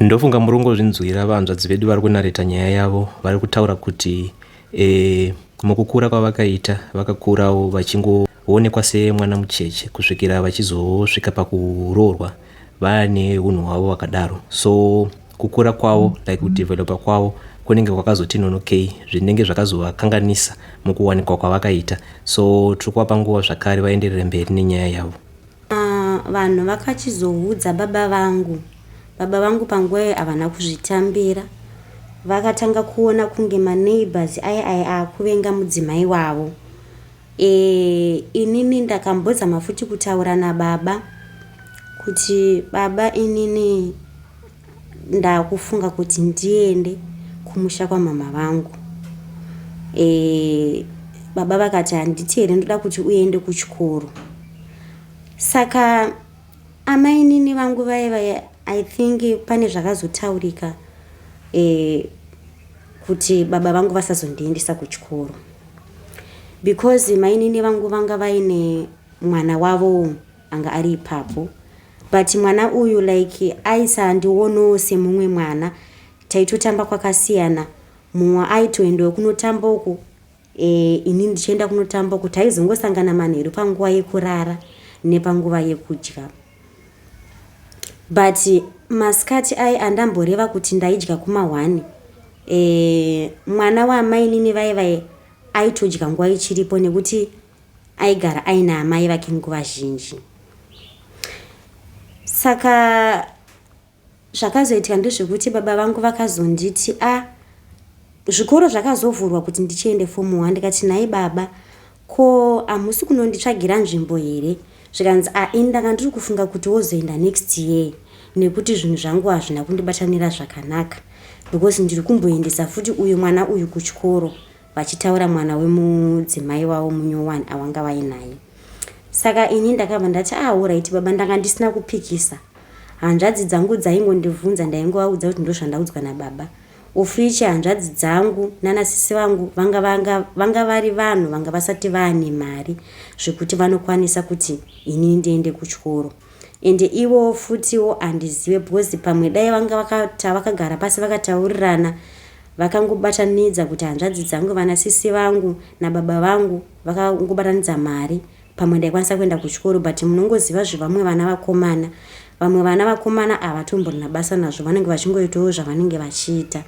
Ndofunga murongozvinzwira vahanzvadzi vedu vari kunareta nyaya yavo vari kutaura kuti e, mukukura kwavakaita vakakurawo vachingoonekwa semwana mucheche kusvikira vachizosvika pakuroorwa vaane unhu hwavo vakadaro so kukura kwavo like kudevelopa kwavo kunenge kwakazoti nonokei zvinenge zvakazovakanganisa mukuwanikwa kwavakaita so tiri kuvapa nguva zvakare vaenderere mberi nenyaya yavo Uh, vanhu vakachizoudza baba vangu baba vangu panguva iyo havana kuzvitambira vakatanga kuona kunge maneighbors aye aye akuvenga mudzimai wavo e, inini ndakambozama futi kutaura nababa kuti baba inini ndakufunga kuti ndiende kumusha kwamama vangu e, baba vakati handiti here ndoda kuti uende kuchikoro saka amainini vangu vaiva i think pane zvakazotaurika e, kuti baba vangu vasazondiendesa kuchikoro because mainini vangu vanga vaine mwana wavo anga ari ipapo but mwana uyu like aisaandionowo semumwe mwana taitotamba kwakasiyana mumwe aitoendawo kunotamba uku e, ini ndichienda kunotamba uku taizongosangana manheru panguva yekurara nepanguva yekudya but masikati aye andamboreva kuti ndaidya kumahwani e, mwana waamainini vaivaye aitodya nguva ichiripo nekuti aigara aina amai vake nguva zhinji saka zvakazoitika ndezvekuti baba vangu vakazonditi a ah, zvikoro zvakazovhurwa kuti ndichiende fomu one ndikati nhai baba ko hamusi kunonditsvagira nzvimbo here zvikanzi a ah, ini ndanga ndiri kufunga kuti wozoenda next year nekuti zvinhu zvangu hazvina kundibatanira zvakanaka because ndiri kumboendesa futi uyu mwana uyu kuchikoro vachitaura mwana wemudzimai wavo munyowani awanga vainaye saka ini ndakabva ndati auraiti ah, baba ndanga ndisina kupikisa hanzvadzi dzangu dzaingondibvunza ndaingovaudza kuti ndozvandaudzwa nababa ofichi hanzvadzi dzangu nanasisi vangu vanga vanga vanga vari vanhu vanga vasati vaane mari zvekuti vanokwanisa kuti ini ndiende kuchikoro ende ivowo futiwo handizive because pamwe dai vanga vakata vakagara pasi vakataurirana Vakangobatanidza kuti hanzvadzi dzangu vana sisi vangu nababa vangu vakangobatanidza mari pamwe ndaikwanisa kuenda kuchikoro but munongoziva zvevamwe vana vakomana vamwe vana vakomana havatomborina basa nazvo vanenge vachingoitawo zvavanenge vachiita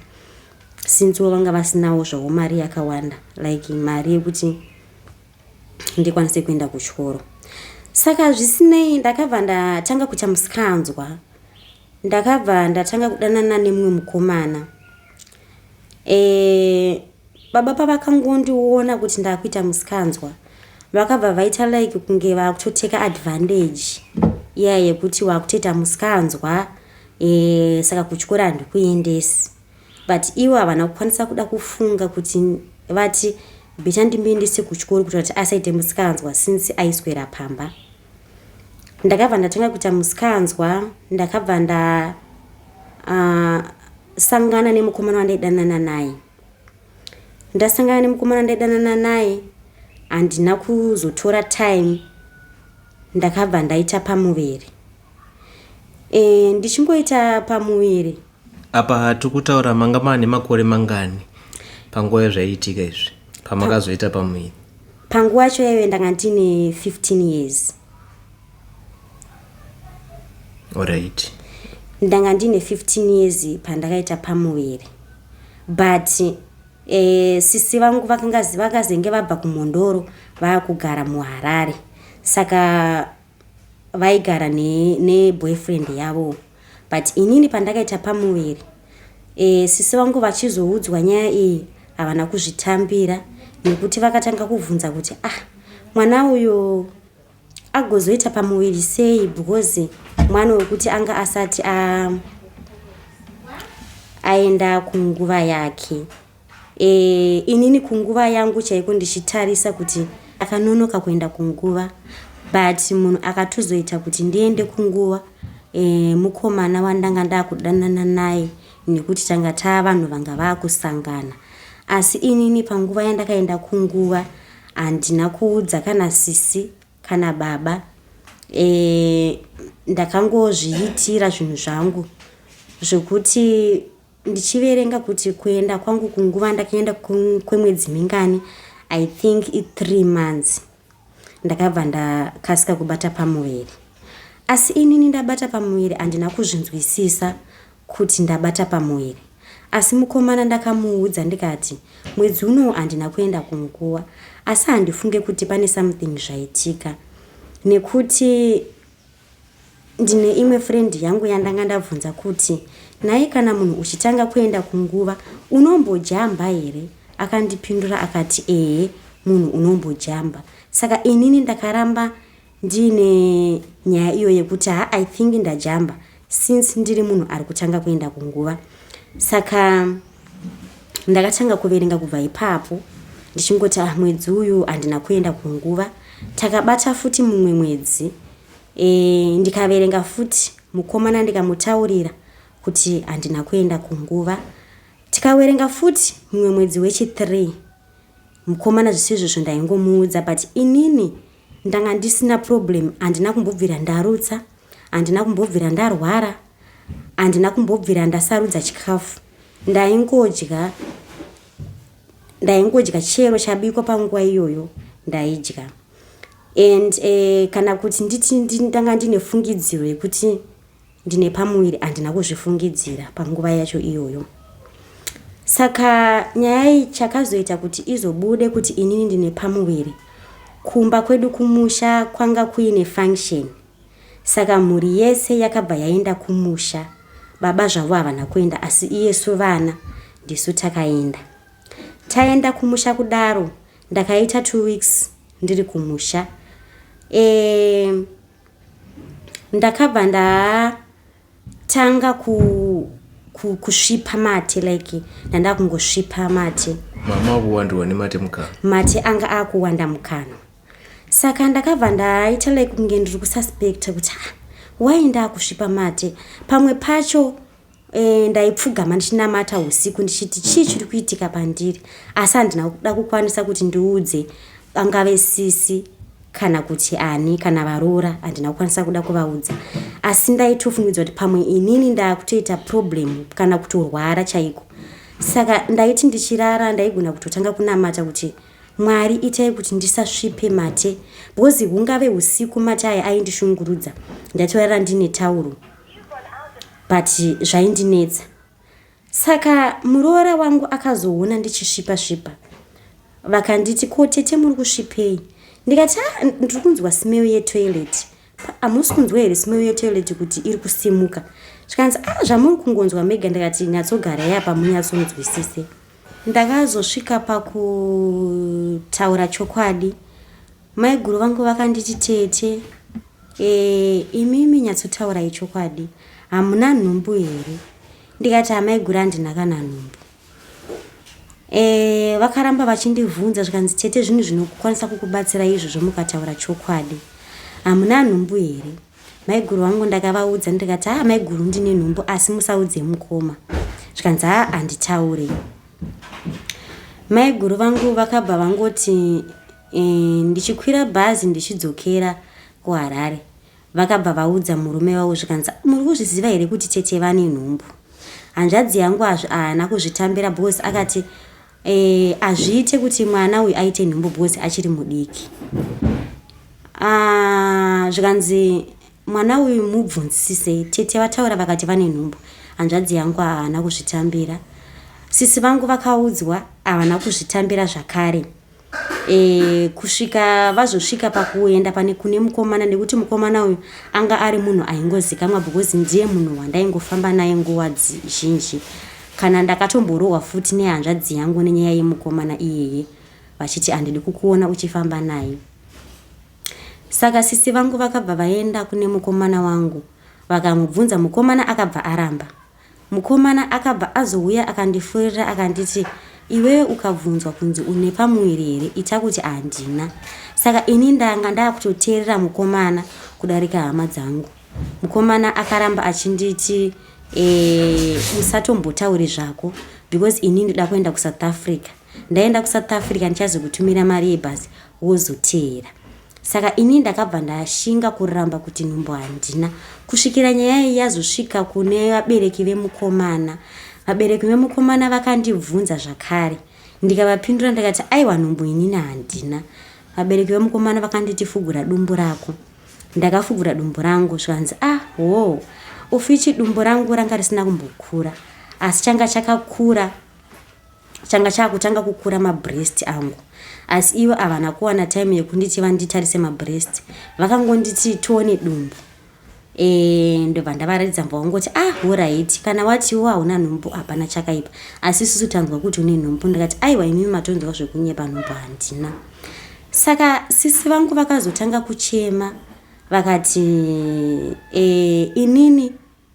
sincewo vanga vasinawo zvavo mari yakawanda like mari yekuti ndikwanise kuenda kuchikoro saka zvisinei ndakabva ndatanga kuita musikanzwa Ndakabva ndatanga kudanana nemumwe mukomana. Eh, baba pavakangondiona kuti ndakuita musikanzwa vakabva vaita like kunge vakutoteka advantage iya yekuti wakutoita musikanzwa e, saka kuchikoro handikuendesi but ivo havana kukwanisa kuda kufunga kuti vati beta ndimuendese kuchikoro kuita kuti asaite musikanzwa since aiswera pamba ndakabva ndatanga kuita musikanzwa ndakabva nda uh, sangana nemukomana wandaidanana naye ndasangana nemukomana ndaidanana naye handina kuzotora time ndakabva ndaita pamuviri e, ndichingoita pamuviri apa tiri kutaura manga maa nemakore mangani panguva yazvaiitika izvi pamakazoita pamuviri panguva yacho yaive ndanga ndine 15 years orit ndanga ndine 15 years pandakaita pamuviri but e, sisi vangu vakazenge vabva kumhondoro vava kugara muharare saka vaigara ne, ne boyfriend yavo but inini pandakaita pamuviri e, sisi vangu vachizoudzwa nyaya iyi havana kuzvitambira nekuti vakatanga kuvhunza kuti ah mwana uyo agozoita pamuviri sei because mwana wekuti anga asati a, aenda kunguva yake Eh, inini kunguva yangu chaiko ndichitarisa kuti akanonoka kuenda kunguva but munhu akatozoita kuti ndiende kunguva eh, mukomana wandanga ndakudanana naye nekuti tanga taa vanhu vanga vakusangana asi inini panguva yandakaenda kunguva handina kuudza kana sisi kana baba e, ndakangozviitira zvinhu zvangu zvekuti ndichiverenga kuti kuenda kwangu kunguva ndakaenda kwemwedzi mingani i think i3 months ndakabva ndakasika kubata pamuviri asi inini ndabata pamuviri handina kuzvinzwisisa kuti ndabata pamuviri asi mukomana ndakamuudza ndikati mwedzi unowo handina kuenda kunguva asi handifunge kuti pane something zvaitika nekuti Ndine imwe friend yangu yandanga ndabvunza kuti nhai kana munhu uchitanga kuenda kunguva unombojamba here akandipindura akati ehe munhu unombojamba saka inini ndakaramba ndiine nyaya iyo yekuti ha i think ndajamba since ndiri munhu ari kutanga kuenda kunguva saka ndakatanga kuverenga kubva ipapo ndichingoti ah mwedzi uyu handina kuenda kunguva takabata futi mumwe mwedzi e, ndikaverenga futi mukomana ndikamutaurira kuti handina kuenda kunguva tikawerenga futi mumwe mwedzi wechi3 mukomana zvisizvo zvo ndaingomuudza but inini Ndanga ndisina problem handina kumbobvira ndarutsa handina kumbobvira ndarwara handina kumbobvira ndasarudza chikafu ndaingodya ndaingodya chero chabikwa panguva iyoyo ndaidya and uh, kana kuti nditi ndanga ndine fungidziro yekuti Ndine pamuviri andina kuzvifungidzira panguva yacho iyoyo. Saka nyaya iyi chakazoita kuti izobude kuti inini ndine pamuviri. Kumba kwedu kumusha kwanga kuine function. Saka mhuri yese yakabva yaenda kumusha. Baba zvavo havana kuenda asi iyesu vana ndisu takaenda. Taenda kumusha kudaro ndakaita two weeks ndiri kumusha. Eee. ndakabva ndatanga ku, ku, kusvipa mate like ndandakungosvipa mate mama akuwandirwa nemate mukanwa mate anga akuwanda mukanwa saka ndakabva ndaita like kunge ndiri kususpecta kuti ha ah, why ndaakusvipa mate pamwe pacho E, ndaipfugama ndichinamata usiku ndichiti chii chiri kuitika pandiri asi handina kuda kukwanisa kuti ndiudze vangave sisi kana kuti ani kana varoora handina kukwanisa kuda kuvaudza asi ndaitofungidzwa kuti pamwe inini ndakutoita problem kana kutorwara chaiko saka ndaiti ndichirara ndaigona kutotanga kunamata kuti mwari itai kuti ndisasvipe mate because hungave usiku mate aya aindishungurudza ndaitorara ndine tauro but zvaindinetsa saka muroora wangu akazoona ndichisvipa svipa vakanditi ko tete muri kusvipei ndikati ah, ndiri kunzwa smell yetoilet hamusi kunzwa here smell yetoilet kuti iri kusimuka zvikanzi a ah, zvamuri kungonzwa mega ndikati nyatsogarai apa munyatsonzwisise ndakazosvika pakutaura chokwadi Maiguru vangu vakanditi tete e, imimi nyatsotaurai chokwadi hamuna nhumbu here ndikati amaiguru handina kana nhumbu e, vakaramba vachindivhunza zvikanzi tete zvinhu zvinokwanisa kukubatsira izvo zvomukataura chokwadi hamuna nhumbu here maiguru vangu ndakavaudza ndikati haa maiguru ndine nhumbu asi musaudze mukoma zvikanzi haa handitaure maiguru vangu vakabva vangoti E, ndichikwira bhazi ndichidzokera kuharare vakabva vaudza murume wavo zvikanzi muri kuzviziva here kuti tete vane nhumbu hanzvadzi yangu azvi ahana kuzvitambira bcause akati e, azviite kuti mwana uyu aite nhumbu bcause achiri mudiki ah, zvikanzi mwana uyu mubvunzisisei tete vataura vakati vane nhumbu hanzvadzi yangu ahana kuzvitambira sisi vangu vakaudzwa havana kuzvitambira zvakare e, kusvika vazosvika pakuenda pane kune mukomana nekuti mukomana uyu anga ari munhu aingozikamwa because ndiye munhu wandaingofamba naye nguva zhinji kana ndakatomborohwa futi nehanzvadzi yangu nenyaya yemukomana iyeye vachiti handidi kukuona uchifamba naye saka sisi vangu vakabva vaenda kune mukomana wangu vakamubvunza mukomana akabva aramba Mukomana akabva azouya akandifurira akanditi iwewe ukabvunzwa kunzi une pamuviri here ita kuti handina. Saka ini ndanga ndakutoteerera mukomana kudarika hama dzangu. Mukomana akaramba achinditi eh, usatombotauri zvako because ini ndoda kuenda kusouth africa ndaenda kusouth africa ndichazokutumira mari yebhasi wozoteera. Saka ini ndakabva ndashinga kuramba kuti nhumbu handina kusvikira nyaya iyi yazosvika kune vabereki vemukomana. Vabereki vemukomana vakandibvunza zvakare ndikavapindura ndikati aiwa nhumbu inini handina. Vabereki vemukomana vakanditi fugura dumbu rako. Ndakafugura dumbu rangu zvikanzi ah hoo ofichi dumbu rangu ranga risina kumbokura asi changa chakakura changa chakutanga kukura mabreast angu asi ivo havana kuwana time yekunditi vanditarise mabreast vakangonditi tione dumbu e, ndobva ndavaratidza mva wangoti ah horit kana watiwo hauna nhumbu hapana chakaipa asi isusu tanzwa kuti une nhumbu ndikati aiwa imimi matonzwa zvekunyepa nhumbu handina saka sisi vangu vakazotanga kuchema vakati e, inini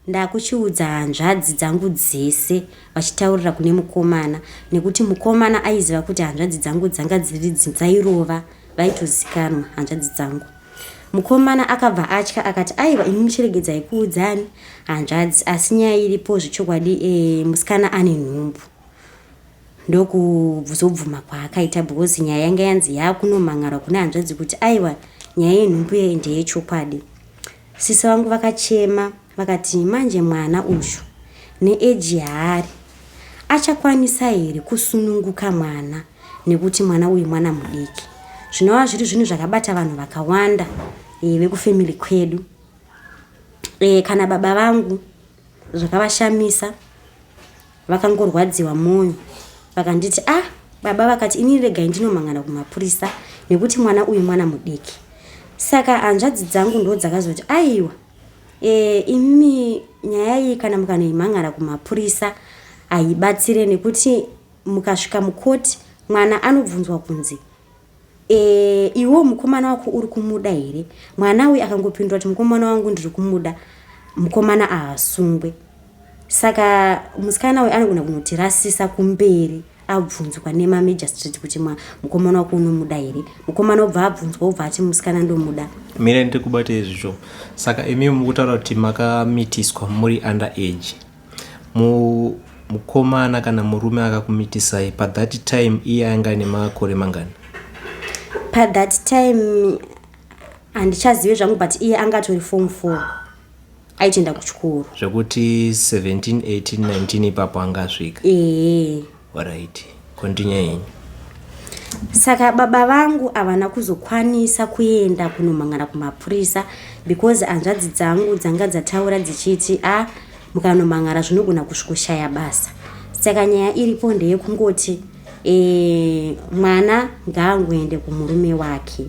Ndakuchiudza hanzvadzi dzangu dzese vachitaurira kune mukomana nekuti mukomana aiziva kuti hanzvadzi dzangu dzanga dziri dzairova vaitozikanwa hanzvadzi dzangu. Mukomana akabva atya akati aiwa imi muchiregedzai kuudzani hanzvadzi asi nyaya iripo zvechokwadi e, musikana ane nhumbu ndokuzobvuma kwaakaita because nyaya yanga yanzi yakunomhan'arwa kune hanzvadzi kuti aiwa nyaya yenhumbu yeye ndeyechokwadi Sisi vangu vakachema vakati manje mwana uyu neeji yaari achakwanisa here kusununguka mwana nekuti mwana uyu mwana mudiki. Zvinova zviri zvinhu zvakabata vanhu vakawanda e, vekufamily kwedu e, kana baba vangu zvakavashamisa vakangorwadziwa moyo vakanditi ah baba vakati ini regai ndinomangana kumapurisa nekuti mwana uyu mwana mudiki saka hanzvadzi dzangu ndo dzakazoti aiwa e, imi nyaya iyi kana mukanoimhangara kumapurisa haibatsire nekuti mukasvika mukoti mwana anobvunzwa kunzi Eh, iwo mukomana wako uri kumuda here? Mwana uyu akangopindura kuti mukomana wangu ndiri kumuda. Mukomana ahasungwe. Saka musikana uyu anogona kunotirasisa kumberi abvunzwa nemamagistrate kuti mukomana wako unomuda here mukomana obva abvunzwa obva ati musikana ndomuda mire ndiri kubata izvizvo saka imi mukutaura kuti makamitiswa muri under age Mu mukomana kana murume akakumitisai pa that time iye ainga ane makore mangani pa that time handichazive zvangu but iye anga atori form four aitoenda kuchikoro zvekuti 17 18 19 ipapo angasvika ee Alright, continue henyu. Saka baba vangu havana kuzokwanisa kuenda kunomhan'ara kumapurisa because hanzvadzi dzangu dzanga dzataura dzichiti a ah, mukanomhan'ara zvinogona kusvikoshaya basa. Saka nyaya iripo ndeyekungoti e, mwana ngaangoende kumurume wake.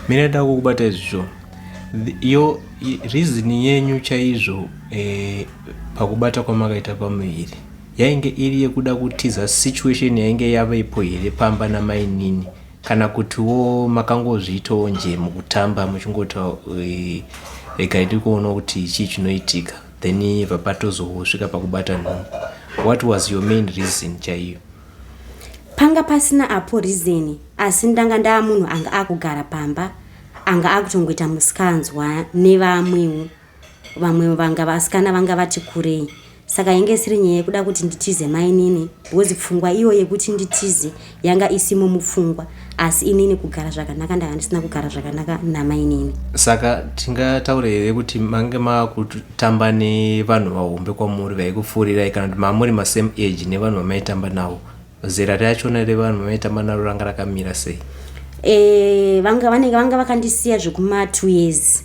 Mine ndakukubatai zvisho yo reason yenyu chaizvo eh, pakubata kwamakaita pamuviri yainge iri yekuda kutiza situation yainge yavepo here pamba namainini kana kutiwo makangozviitawo nje mukutamba muchingoti eh, regai tiri kuona kuti chii chinoitika then vapatozosvika pakubata nhumbu what was your main reason chaiyo panga pasina apo reason asi ndanga ndaa munhu anga akugara pamba anga akutongoita musikanzwa nevamwewo vamwe vanga vasikana vanga vati kurei saka yange isiri nyaya yekuda kuti nditize mainini because pfungwa iyo yekuti nditize yanga isimo mupfungwa asi inini kugara zvakanaka ndanga ndisina kugara zvakanaka namainini saka tingataure here kuti mange makutamba nevanhu vahombe kwamuri vaikupfuurirai kana kuti mamuri masame age nevanhu vamaitamba navo zera rachona revanhu vanoita manaro ranga rakamira sei e, vanga vanenge vanga vakandisiya zvekuma two years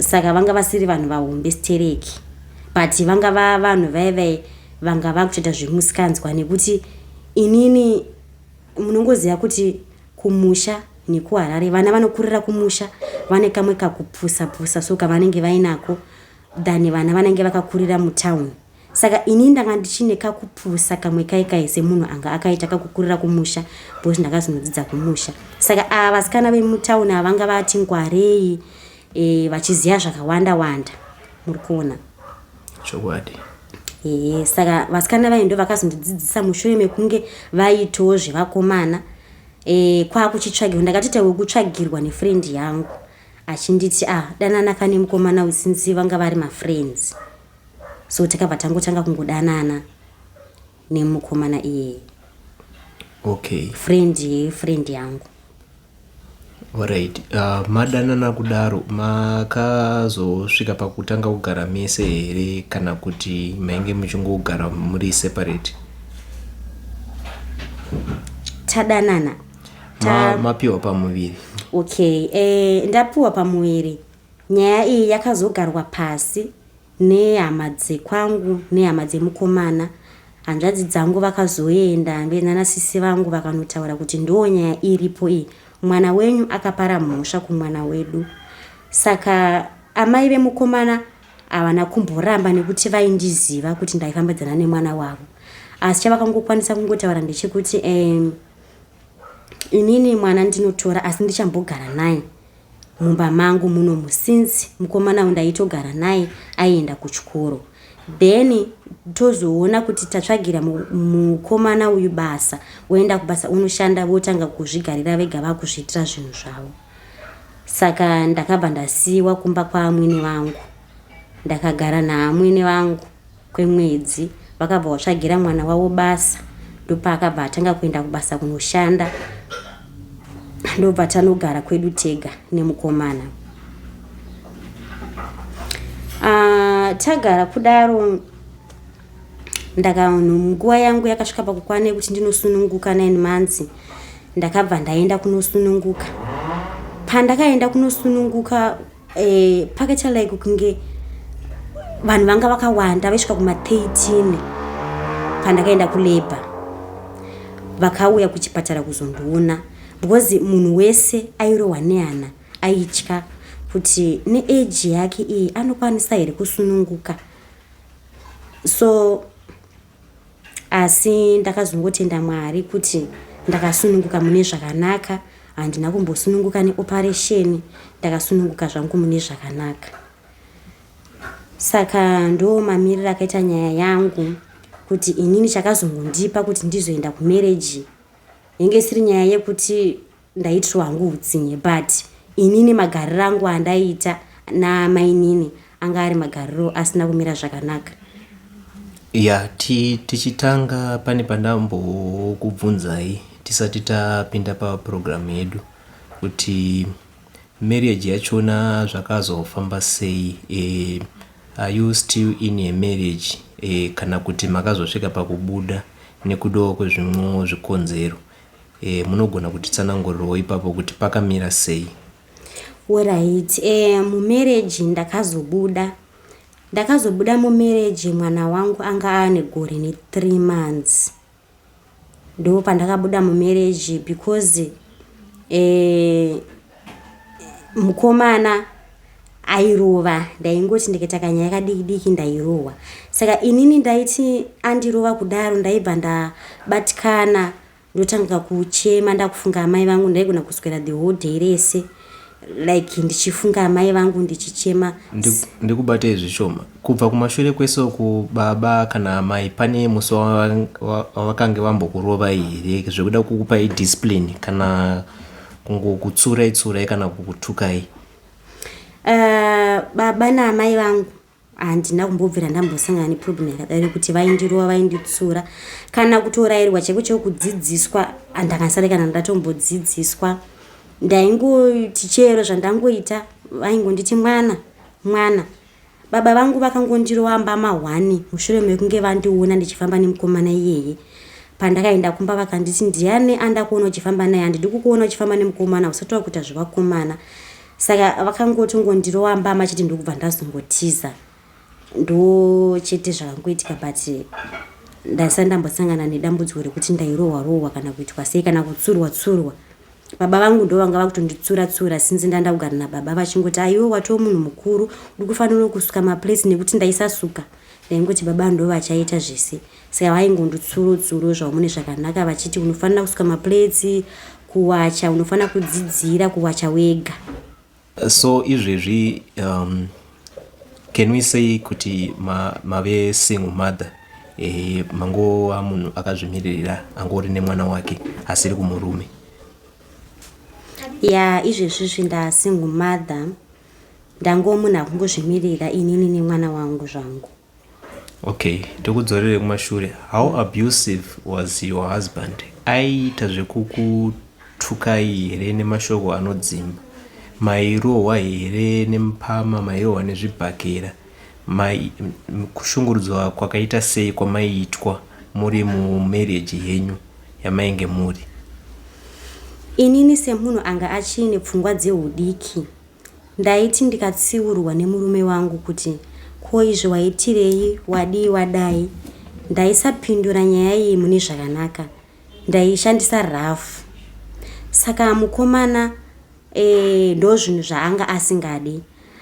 saka vanga vasiri vanhu vahombe stereki but vanga va vanhu vaivai vanga vakutoita zvemusikanzwa nekuti inini munongoziva kuti kumusha nekuharare vana vanokurira kumusha vane kamwe kakupusa pusa so kavanenge vainako than vana vanenge vakakurira mutown Saka ini ndanga ndichine kakupusa kamwe kai kai semunhu anga akaita kakukurira kumusha because ndakazinodzidza kumusha. Saka ava vasikana vemutauni ava vanga vati ngwarei e, vachiziva zvakawanda wanda. Muri kuona? Chokwadi. Ehe, saka vasikana vaye ndo vakazondidzidzisa mushure mekunge vaitawo zvevakomana e, kwakuchitsvagirwa ndakatoita wekutsvagirwa nefriend yangu achinditi ah danana kane mukomana usinzi vanga vari mafriends. so takabva tangotanga kungodanana nemukomana iyeye okay friend yefriend yangu orit uh, ah, madanana kudaro makazosvika pakutanga kugara mese here kana kuti mainge muchingogara muri separate tadanana ta... ma, mapiwa pamuviri okay e, ndapiwa pamuviri nyaya iyi yakazogarwa pasi nehama dzekwangu nehama dzemukomana hanzvadzi dzangu vakazoenda mbe nana sisi vangu vakanotaura kuti ndoo nyaya iripo iyi mwana wenyu akapara mhosva kumwana wedu saka amai vemukomana havana kumboramba nekuti vaindiziva kuti ndaifambidzana nemwana wavo asi chavakangokwanisa kungotaura ndechekuti um, Inini mwana ndinotora asi ndichambogara naye mumba mangu munomu since mukomana uyu ndaitogara naye aienda kuchikoro then tozoona kuti tatsvagira mukomana uyu basa woenda kubasa unoshanda votanga kuzvigarira vega vakuzviitira zvinhu zvavo saka ndakabva ndasiyiwa kumba kwaamwene vangu ndakagara naamwene vangu kwemwedzi vakabva vatsvagira mwana wavo basa ndopaakabva atanga kuenda kubasa kunoshanda ndobva tanogara kwedu tega nemukomana ah, tagara kudaro ndakavanhu nguva yangu yakasvika pakukwana yekuti ndinosununguka nine months ndakabva ndaenda kunosununguka pandakaenda kunosununguka eh, pakaita like kunge vanhu vanga vakawanda vaisvika kuma 13 pandakaenda kulabor vakauya kuchipatara kuzondiona because munhu wese airohwa nehana aitya kuti neage yake iyi anokwanisa here kusununguka so asi ndakazongotenda mwari kuti ndakasununguka mune zvakanaka handina kumbosununguka neoparesheni ndakasununguka zvangu mune zvakanaka saka ndo mamiriro akaita nyaya yangu kuti inini chakazongondipa kuti ndizoenda kumereji yenge isiri nyaya yekuti Ndaitirwa hangu hutsinye but inini magariro angu andaiita namainini anga ari magariro asina kumira zvakanaka. Ya tichitanga pane pandambokubvunzai tisati tapinda paprogramu yedu kuti marriage yachona zvakazofamba sei e, are you still in a marriage e, kana kuti makazosvika pakubuda nekudawo kwezvimwewo zvikonzero Eh, munogona kutitsanangurirawo ipapo kuti pakamira sei? Alright, eh, mumereji ndakazobuda ndakazobuda mumereji mwana wangu anga aane gore nethree months ndo pandakabuda mumereji because eh, mukomana airova ndaingoti ndikaita kanyaya kadiki diki ndairohwa saka inini ndaiti andirova kudaro ndaibva ndabatikana ndotanga kuchema ndakufunga amai vangu ndaigona kuswera the whole day rese like ndichifunga amai vangu ndichichema ndikubatei zvishoma kubva kumashure kwese uku baba kana amai pane musi wavakange vambokurovai here zvekuda kukupai discipline kana kungokutsurai tsurai kana kukutukai uh, baba naamai vangu handina kumbobvira ndambosangana neproblem yakadai rekuti vaindirova vainditsura kana kutorairwa chaiko chaiko kudzidziswa andakasare kana ndatombodzidziswa ndaingoti chero zvandangoita vaingonditi mwana mwana Baba vangu vakangondirova mbama hwani mushure mekunge vandiona ndichifamba nemukomana iyeye. Pandakaenda kumba vakanditi ndiani andakuona uchifamba naye handidi kukuona uchifamba nemukomana usati wakuita zvevakomana. Saka vakangotongondirova mbama chete ndokubva ndazongotiza. Ndo chete zvakangoitika but ndaisati ndambosangana nedambudziko rekuti ndairohwa rohwa kana kuitwa sei kana kutsurwa tsurwa. Baba vangu ndovanga vakutonditsura tsura since ndanda kugara nababa vachingoti aiwe watoo munhu mukuru uri kufanira kusuka maplates nekuti ndaisasuka ndaingoti baba ndovachaita zvese saka vaingondi tsuro tsuro zvamune zvakanaka vachiti unofanira kusuka maplates kuwacha unofanira kudzidzira kuwacha wega So izvezvi um, can we say kuti ma, mave single mother eh, mangova munhu akazvimiririra angori nemwana wake asiri kumurume ya yeah, izvezvi zvinda single mother ndangomunhu akungozvimirira inini nemwana wangu zvangu Okay, ndikudzorere kumashure. How abusive was your husband? Aiita zvekukutukai here nemashoko anodzimba? Mairohwa here nemupama? Mairohwa nezvibhakera? Mai kushungurudzwa kwakaita sei kwamaiitwa muri mumarriage henyu yamainge muri? Inini semunhu anga achiine pfungwa dzeudiki Ndaiti ndikatsiurwa nemurume wangu kuti ko izvi waitirei wadii wadai ndaisapindura nyaya iyi mune zvakanaka ndaishandisa rafu saka mukomana e, ndozvinhu zvaanga asingadi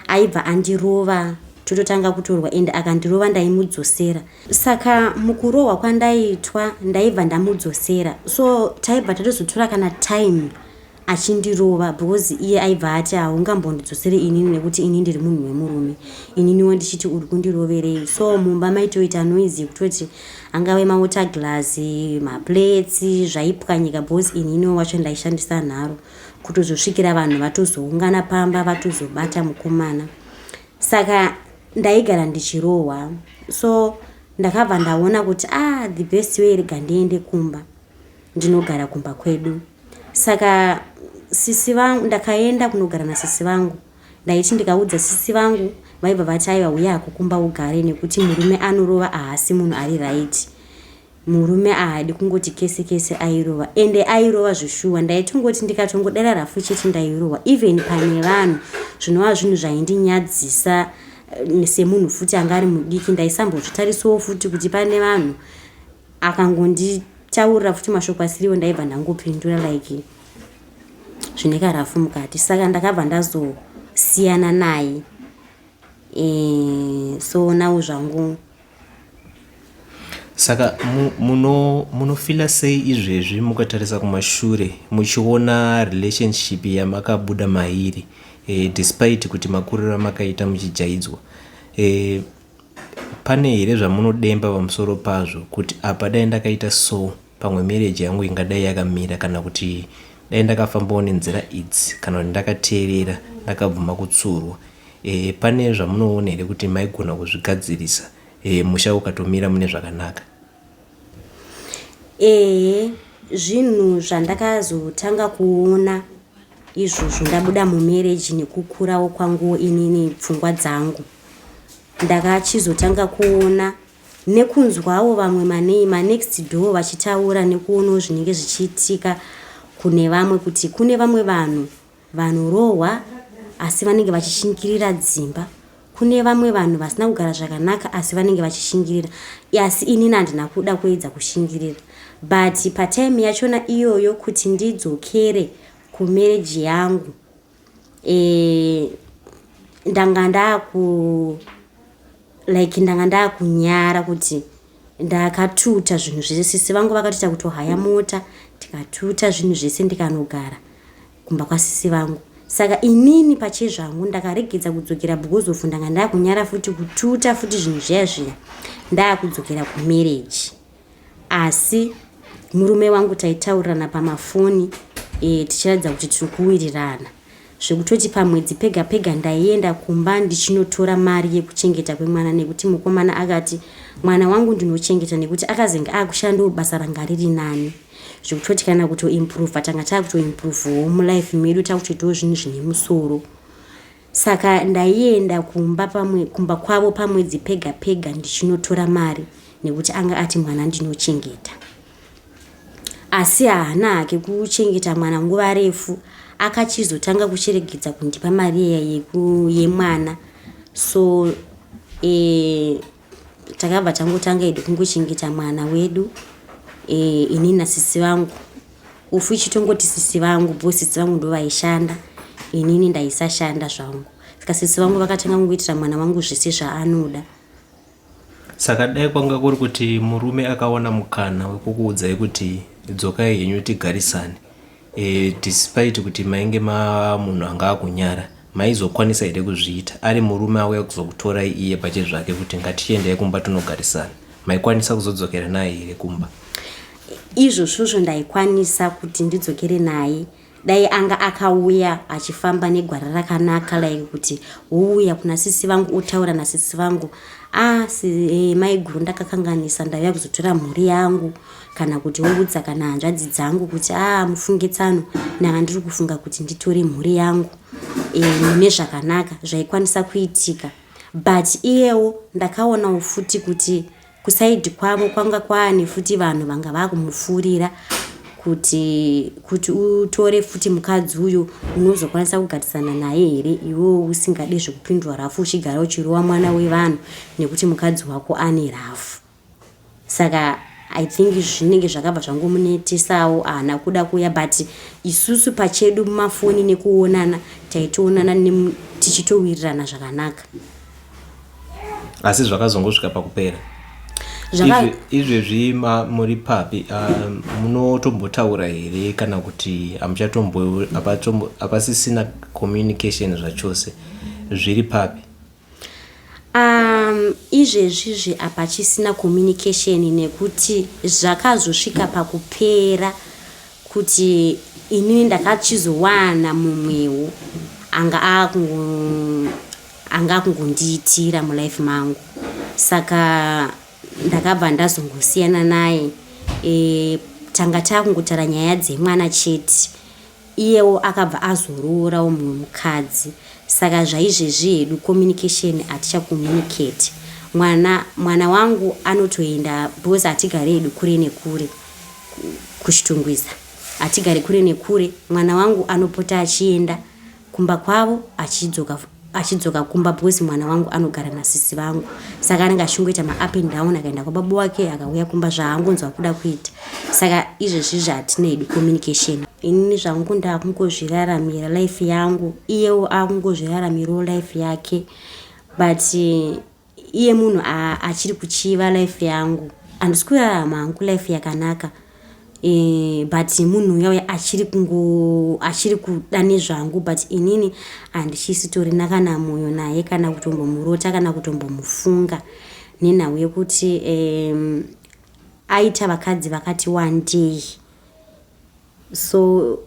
aibva andirova tototanga kutorwa and akandirova ndaimudzosera saka mukurohwa kwandaitwa ndaibva ndamudzosera so taibva tatozotora kana time achindirova because iye aibva ati haungambondidzosere inini nekuti ini ndiri munhu wemurume ininiwo ndichiti uri kundiroverei so mumba maitoita noise yekutoti angave mawater glass maplates zvaipwanyika because ininiwo wacho ndaishandisa nharo kutozosvikira vanhu vatozoungana pamba vatozobata mukomana saka ndaigara ndichirohwa so ndakabva ndaona kuti ah the best way rega ndiende kumba ndinogara kumba kwedu saka sisi vangu ndakaenda kunogara nasisi vangu ndaiti ndikaudza sisi vangu vaibva vati aiva uye akukumba ugare nekuti murume anorova ahasi munhu ari right murume ahadi kungoti kese kese airova ende airova zveshuwa ndaitongoti ndikatongodera rafu chete ndairohwa even pane vanhu zvinova zvinhu zvaindinyadzisa eh, semunhu futi anga ari mudiki ndaisambozvitarisawo futi kuti pane vanhu akangonditaurira futi mashoko asiriwo ndaibva ndangopindura like zvine karafu mukati saka ndakabva ndazosiyana naye e, so now zvangu saka munofila sei izvezvi mukatarisa kumashure muchiona relationship yamakabuda mairi e, despite kuti makuriro amakaita muchijaidzwa e, Pane here zvamunodemba pamusoro pazvo kuti apa dai ndakaita so pamwe marriage yangu ingadai yakamira kana kuti dai ndakafambawo nenzira idzi kana kuti ndakateerera ndakabvuma kutsurwa e, pane zvamunoona here kuti maigona kuzvigadzirisa e, musha ukatomira mune zvakanaka Ehe zvinhu zvandakazotanga kuona izvozvo ndabuda mumereji nekukurawo kwangu inini pfungwa dzangu ndakachizotanga kuona nekunzwawo vamwe manei manext door vachitaura nekuonawo zvinenge zvichiitika kune vamwe kuti kune vamwe vanhu Vanorohwa asi vanenge vachishingirira dzimba. Kune vamwe vanhu vasina kugara zvakanaka asi vanenge vachishingirira. Asi inini handina kuda kuedza kushingirira. But patime yachona iyoyo kuti ndidzokere kumarriage yangu eh, ndanga ndaku like ndanga ndakunyara kuti ndakatuta zvinhu zvese sisi vangu vakatoita kutohaya mota tikatuta zvinhu zvese ndikanogara kumba kwasisi vangu saka inini pache zvangu ndakaregedza kudzokera because of ndanga ndakunyara futi kututa futi zvinhu zviya zviya ndakudzokera kumarriage asi murume wangu taitaurirana pamafoni e, tichiratidza kuti tiri kuwirirana zvekutoti pamwedzi pega pega ndaienda kumba ndichinotora mari yekuchengeta kwemwana nekuti mukomana akati mwana wangu ndinochengeta nekuti akazenge akushandawo basa ranga riri nani zvekutoti kana kutoimprova tanga taakutoimprovawo mulife medu takutoitawo zvinhu zvine musoro Saka ndaienda kumba pamwe kumba kwavo pamwedzi pega pega ndichinotora mari nekuti anga ati mwana ndinochengeta asi haana hake kuchengeta mwana nguva refu akachizotanga kucheregedza kundipa mari iya yemwana so e, Takabva tangotanga hedu kungochengeta mwana wedu e, ini nasisi vangu ufu ichitongoti sisi vangu bho sisi vangu ndo vaishanda inini ndaisashanda zvangu saka sisi vangu vakatanga kungoitira mwana wangu zvese zvaanoda saka dai kwanga kuri kuti murume akaona mukana wekukuudzai kuti dzokai henyu tigarisane Eh despite kuti mainge mava munhu anga akunyara maizokwanisa here kuzviita ari murume auya kuzokutorai iye pache zvake kuti ngatichiendai kumba tonogarisana maikwanisa kuzodzokera naye here kumba izvozvozvo ndaikwanisa kuti ndidzokere naye dai anga akauya achifamba negwara rakanaka like kuti wouya kuna sisi vangu otaura nasisi vangu ah si, eh, maiguru ndakakanganisa ndauya kuzotora mhuri yangu kana kuti woudza kana hanzvadzi dzangu kuti aa ah, mufunge tsano nanga ndiri kufunga kuti nditore mhuri yangu e, mune zvakanaka zvaikwanisa kuitika but iyewo ndakaonawo futi kuti kusaidi kwavo kwanga kwaane futi vanhu vanga vakumufurira kuti kuti utore futi mukadzi uyu unozokwanisa kugatisana naye here iwewo usingade zvekupindwa rafu uchigara uchirova mwana wevanhu nekuti mukadzi wako ane rafu Saka I think zvinenge zvakabva zvangomunetesawo ahana kuda kuuya but isusu pachedu mumafoni nekuonana taitoonana tichitowirirana zvakanaka asi zvakazongosvika pakupera izvezvi muri papi um, munotombotaura here kana kuti hamuchatombo hapasisina communication zvachose zviri papi Um, izvezvizvi hapachisina communication nekuti zvakazosvika pakupera kuti inini ndakachizowana mumwewo anga anga akungondiitira mulife mangu saka ndakabva ndazongosiyana naye e, tanga takungotara nyaya dzemwana chete Iyewo akabva azoroorawo mumwe mukadzi saka zvaizvezvi hedu communication hatichacommunicate. Mwana mwana wangu anotoenda because hatigare hedu kure nekure kuChitungwiza hatigare kure nekure. Mwana wangu anopota achienda kumba kwavo achidzoka. achidzoka kumba because mwana wangu anogara nasisi vangu saka anenge achingoita maup and down akaenda kwababa wake akauya kumba zvaangonzwa kuda kuita saka izvezvi zvatinei communication inini zvangu ndaakungozviraramira life yangu iyewo akungozviraramirawo life yake but iye munhu achiri kuchiva life yangu andisi kurarama hangu life yakanaka e, but munhu uya uya achiri kungo achiri kuda nezvangu but inini handisitorina kana mwoyo naye kana kutombomurota kana kutombomufunga nenhau yekuti um, aita vakadzi vakati wandei so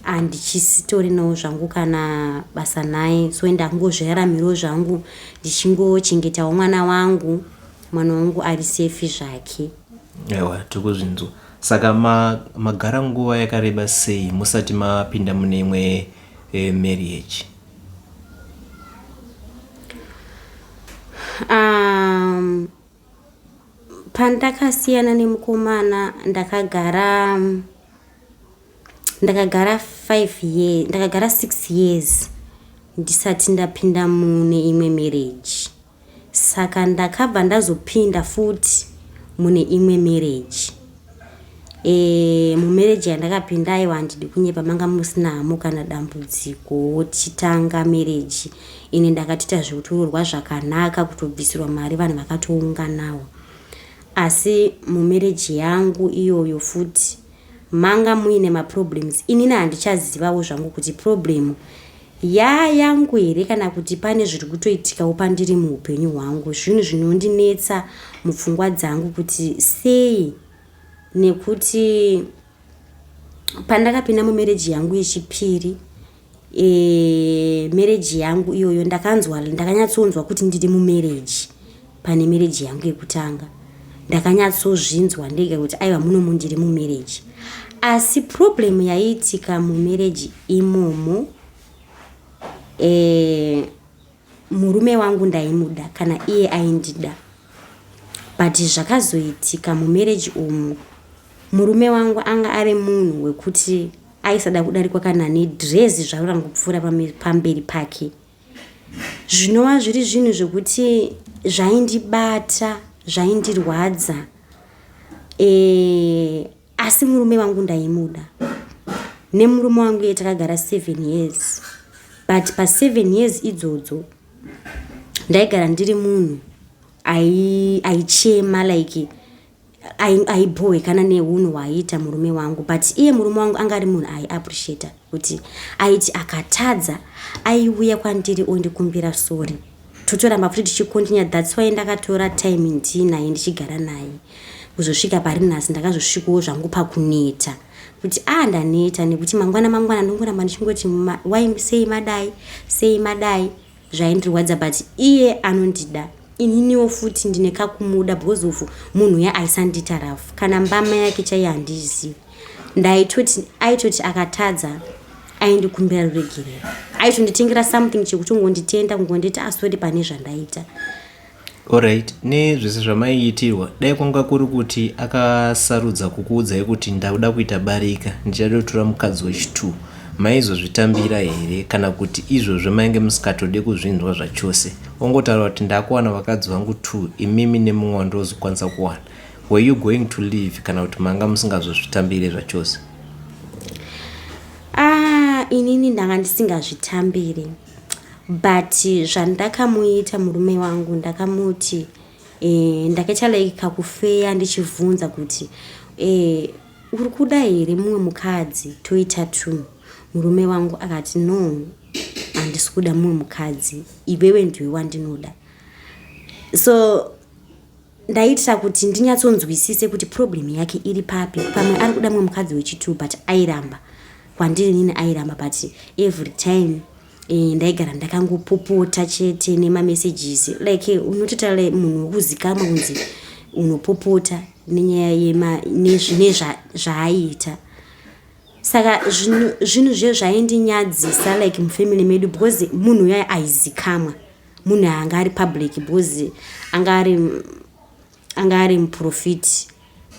handichisitorinao zvangu kana basa naye so ende akungozviraramiro zvangu ndichingochengetao mwana wangu mwana wangu ari sefi zvake ewa tiri kuzvinzwa saka magara ma nguva yakareba sei musati mapinda mune imwe e, marriage um, Pandakasiyana nemukomana ndakagara ndakagara 5 years ndakagara 6 years ndisati ndapinda mune imwe marriage saka ndakabva ndazopinda futi mune imwe marriage Eh, mumereji yandakapinda aiwa handidi kunyepa manga musina hamo kana dambudziko tichitanga mereji ini ndakatoita zvekutororwa zvakanaka kutobvisirwa mari vanhu vakatounganawo asi mumereji yangu iyoyo futi manga muine maproblems inini handichazivawo zvangu kuti problemu Yaa yangu here kana kuti pane zviri kutoitikawo pandiri muupenyu hwangu zvinhu zvinondinetsa mupfungwa dzangu kuti sei nekuti pandakapinda mumereji yangu yechipiri e, mereji yangu iyoyo ndakanzwa ndakanyatsonzwa kuti ndiri mumereji pane mereji yangu yekutanga ndakanyatsozvinzwa ndega kuti aiva muno mundiri mumereji asi problem yaiitika mumereji imomo e, murume wangu ndaimuda kana iye aindida but zvakazoitika mumereji umu murume wangu anga ari munhu wekuti aisada kudarikwa kana nedrezi zvaro rangopfuura pamberi pake zvinova zviri zvinhu zvekuti zvaindibata zvaindirwadza e, asi murume wangu ndaimuda nemurume wangu iye takagara seven years but paseven years idzodzo ndaigara ndiri munhu aichema like aibhowe kana neunhu hwaiita murume wangu but iye murume wangu anga ari munhu aiappreciata kuti aiti akatadza aiuya kwandiri ondikumbira sori totoramba futi tichikontinya thats why ndakatora time ndiinaye ndichigara naye kuzosvika pari nhasi ndakazosvikawo zvangu pakuneta kuti a ah, ndaneta nekuti mangwana mangwana ndongoramba ndichingoti wai sei madai sei madai zvaindirwadza but iye anondida ininiwo futi ndine kakumuda because of munhu uya aisandiita rafu kana mbama yake chaiye handizivi ndaitoti aitoti akatadza aindikumbira ruregerero aitonditengera something chekutongonditenda kungonditi asori ah, pane zvandaita Horaiti nezvese zvamaiitirwa dai kwanga kuri kuti akasarudza kukuudzai kuti ndakuda kuita barika ndichada kutora mukadzi wechitu maizozvitambira here kana kuti izvozvo mainge musikatode kuzvinzwa zvachose ongotaura kuti ndakuwana vakadzi vangu two imimi nemumwe wandozokwanisa kuwana were you going to leave kana kuti manga musingazozvitambire zvachose ah inini ndanga ndisingazvitambiri but zvandakamuita murume wangu ndakamuti eh, ndakaita like kakufeya ndichivhunza kuti eh, uri kuda here mumwe mukadzi toita two murume wangu akati no handisi kuda mumwe mukadzi iwewe ndiwe wandinoda so Ndaitira kuti ndinyatsonzwisise kuti problem yake iri papi. Pamwe ari kuda mwe mukadzi wechitu but airamba. Kwandiri nini airamba but every time eh, ndaigara ndakangopopota chete nemamessages like eh, unototaura munhu wekuzikamwa kunzi unopopota nenyaya yema nezvine zvaaiita zva saka zvinhu zviye zvaindinyadzisa like mufamily medu because munhu uya aizikamwa munhu anga ari public because anga ari anga ari muprofiti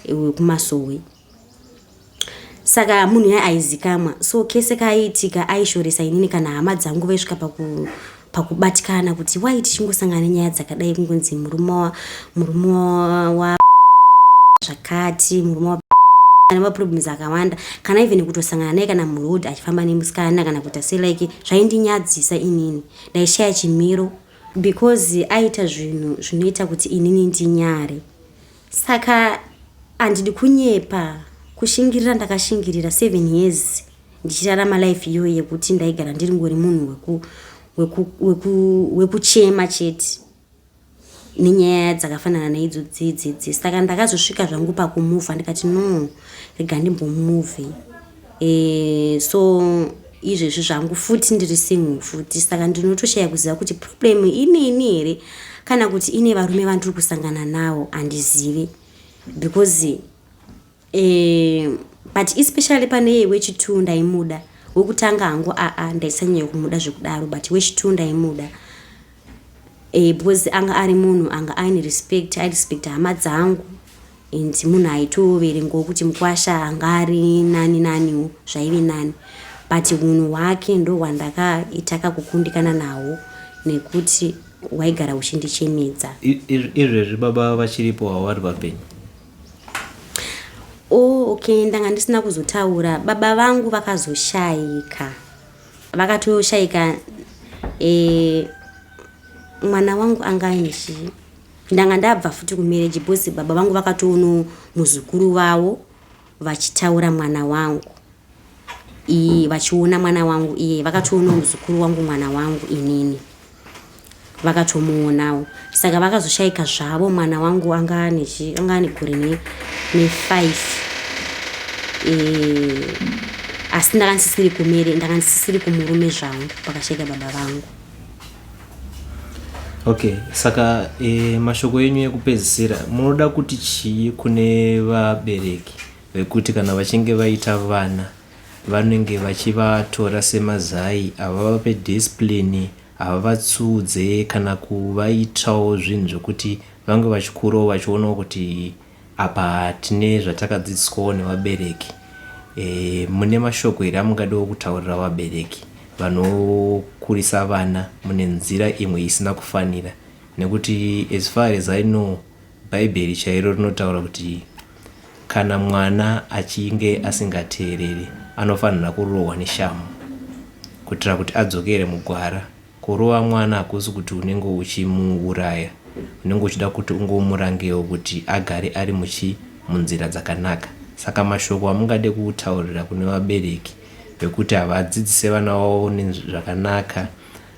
wekumasowe saka munhu yaye aizikamwa so kese kaaiitika aishoresa inini kana hama dzangu vaisvika paku pakubatikana kuti wai tichingosangana nenyaya dzakadai kungonzi murume murume wa zvakati murume wa ane maproblems akawanda kana even kutosangana naye kana muroad achifamba nemusikana kana kuita se like zvaindinyadzisa inini Ndaishaya chimiro because aita zvinhu zvinoita kuti inini ndinyare. Saka andidi kunyepa kushingirira ndakashingirira seven years ndichirarama life iyoyo yekuti ndaigara ndiri ngori munhu wekuchema chete nenyaya dzakafanana neidzo dzidzidzi saka ndakazosvika zvangu pakumuvha ndikati no rega ndimbomuvhi e, eh, so izvezvi zvangu futi ndiri single futi saka ndinotoshaya kuziva kuti problem ineni here kana kuti ine varume vandiri kusangana nawo handizivi because eh, but especially pane iye wechitu ndaimuda wekutanga hangu aa ndaisanyanya kumuda zvekudaro but wechitu ndaimuda eh, because anga ari munhu anga aine respect airespect hama dzangu and munhu aitoverengawo kuti mukwasha anga ari nani naniwo zvaive nani but unhu hwake ndo hwandakaita kakukundikana nahwo nekuti waigara uchindichemedza izvezvi baba vachiripo havari vapenyu Oh, okay, ndanga ndisina kuzotaura. Baba vangu vakazoshaika. Vakatoshaika eh mwana wangu anganji ndanga ndabva futi kumarriage because baba vangu vakatoono muzukuru vavo vachitaura mwana wangu iyi vachiona mwana wangu iye vakatoonawo muzukuru wangu mwana wangu inini vakatomuonawo saka vakazoshaika zvavo mwana wangu anga ane gore nefive eh, asi ndakandisisiri kumere ndakandisisiri kumurume zvangu pakashaika baba vangu okay saka e, mashoko enyu ekupedzisira munoda kuti chii kune vabereki vekuti kana vachinge vaita vana vanenge vachivatora semazai havavape discipline havavatsudze kana kuvaitawo zvinhu zvekuti vange vachikurawo vachionawo kuti apa tine zvatakadzidziswawo nevabereki e, mune mashoko here amungadiwo kutaurira vabereki vanokurisa vana mune nzira imwe isina kufanira nekuti as far as i know Bhaibheri chairo rinotaura kuti kana mwana achinge asingateereri anofanira kurohwa neshamhu kuitira kuti adzokere mugwara. Kurova mwana hakusi kuti unenge uchimuuraya, unenge uchida kuti ungomurangewo kuti agare ari muchi munzira dzakanaka. Saka mashoko amungade kutaurira kune vabereki vekuti havadzidzise vana vavo zvakanaka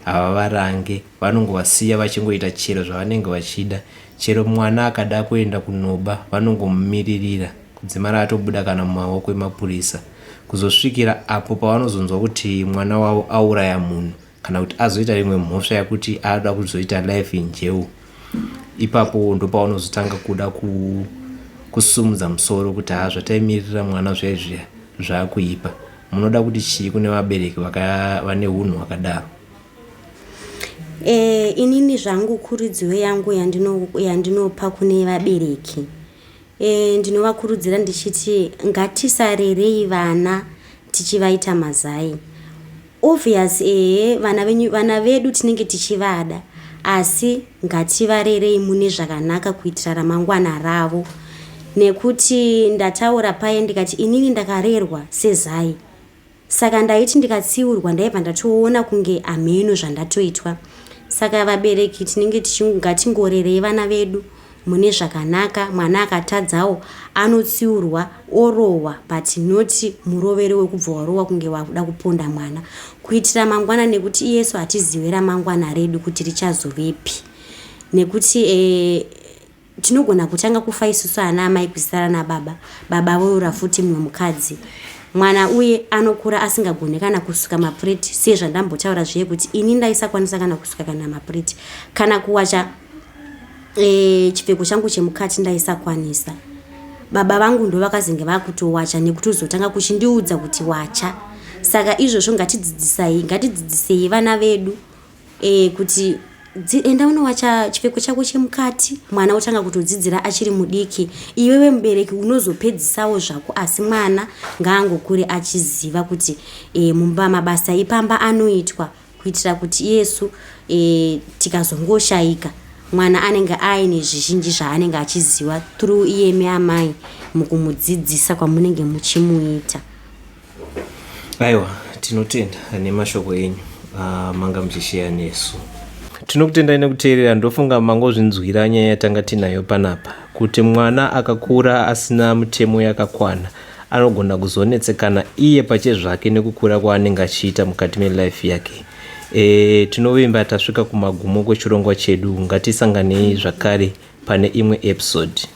Havavarange vanongovasiya vachingoita chero zvavanenge vachida. Chero mwana akada kuenda kunoba vanongomumiririra kudzimara atobuda kana mumaoko emapurisa kuzosvikira apo pavanozonzwa kuti mwana wavo auraya munhu kana kuti azoita imwe mhosva yakuti anoda kuzoita life in jail. ipapo ndopaunozotanga kuda ku, kusumudza musoro kuti haa zvataimirira mwana zviya zviya zvakuipa munoda kuti chii kune vabereki vane unhu hwakadaro e, inini zvangu kuridziwo yangu yandinopa yandino kune vabereki E, ndinovakurudzira ndichiti ngatisarerei vana tichivaita mazai obvious ehe vana venyu vana vedu tinenge tichivada asi ngativarerei mune zvakanaka kuitira ramangwana ravo nekuti ndataura paye ndikati inini ndakarerwa sezai Saka ndaiti ndikatsiurwa ndaibva ndatoona kunge ameno zvandatoitwa. Saka vabereki tinenge ngatingorerei vana vedu mune zvakanaka mwana akatadzawo anotsiurwa orohwa but not murovero wekubva warohwa kunge wakuda kuponda mwana kuitira mangwana nekuti iyesu hatizive ramangwana redu kuti richazovepi nekuti e, Tinogona kutanga kufa isusu ana amai kusara nababa, baba voyura futi mumwe mukadzi. Mwana uye anokura asingagone kana kusuka mapureti siye zvandambotaura zviye kuti ini ndaisakwanisa kana kusuka kana mapureti kana kuwacha e, chipfeko changu chemukati ndaisakwanisa. Baba vangu ndo vakazenge vakutowacha nekutozotanga kuchindiudza kuti wacha. Saka izvozvo ngatidzidzisai, ngatidzidzisei vana vedu. eh, kuti enda unowacha chipfeko chako chemukati mwana otanga kutodzidzira achiri mudiki iwewe mubereki unozopedzisawo zvako asi mwana ngaangokure achiziva kuti e, mumba mabasa ipamba anoitwa kuitira kuti yesu e, tikazongoshaika mwana anenge aine zvizhinji zvaanenge achiziva through iyemi amai mukumudzidzisa kwamunenge muchimuita Aiwa, tinotenda nemashoko enyu uh, manga muchisheya nesu. Tinokutendai nekuteerera, ndofunga mangozvinzwira nyaya yatanga tinayo panapa, kuti mwana akakura asina mutemo yakakwana anogona kuzonetsekana iye pache zvake nekukura kwaanenge achiita mukati melife yake. E, tinovimba tasvika kumagumo kwechirongwa chedu, ngatisanganei zvakare pane imwe episode.